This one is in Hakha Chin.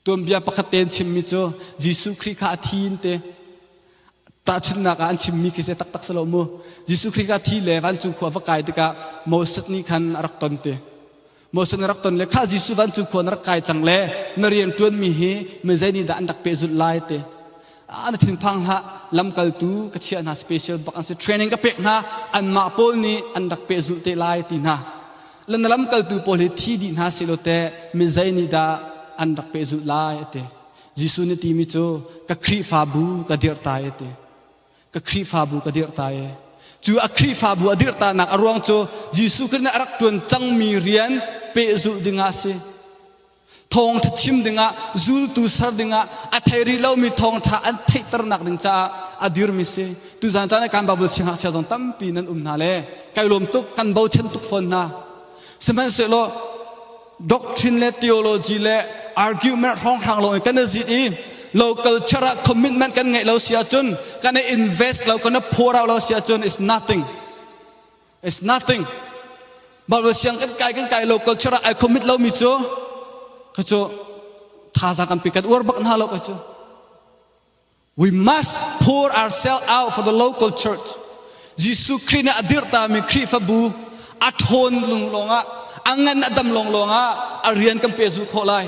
Tuanbia pakhat te an chimmi cu Jesuh Khrih kha a thi in te tahchunhnak ah an chimmi khi se taktak si lo mu. Jesuh Khrih kha thi le vancung khua va kai tikah Moses nih khan a rak ton te. Moses nih a rak ton le khah Jesuh vancung khua na rak kai cang le na rian ṭuanmi hi mizei nih dah an rak pehzulh lai te. ah na thinphang hlah lamkaltu ka chiah hna special bak an si training ka pek hna anmah pawl nih an rak peh zulh te lai ti hna lana lamkaltu pawl hi thi dih hna silo te mi zei nih dah an rak peh zulh lai ate Jesuh nih timi cu ka Khrihfabu ka dirtai ate ka Khrihfabu ka dirtai cu a Khrihfabu a dirtanak a ruang cu Jesuh Khrist nih a rak tuan cangmi rian peh zulh ding ah si thawngṭha chim dingah zultu ser dingah a thei rih lomi thawngṭha an theihternak ding caah a dirmi si tuzan caan kan babul singhah chia zong tampi nan um hna le kai lawm tuk kan bochan tuk fawn hna sihmanhsehlaw doctrine le theology le argument hrawnghrang lo in kan zit i local culture ah commitment kan ngeih lo si ahcun kan i invest lo kan i phor lo si ahcun is nothing It's nothing. Mah le siang kan kai kan kai lo culture ah ai commit lo mi cu ka cu thazang kan pi kan uar bak na lo ka cu We must pour ourselves out for the local church. Jesuh Khrih nih a dirhta mi Khrihfabu a ṭhawn lung lawngah a ngan a dam lawng lawngah a rian kan pe zul khawh lai.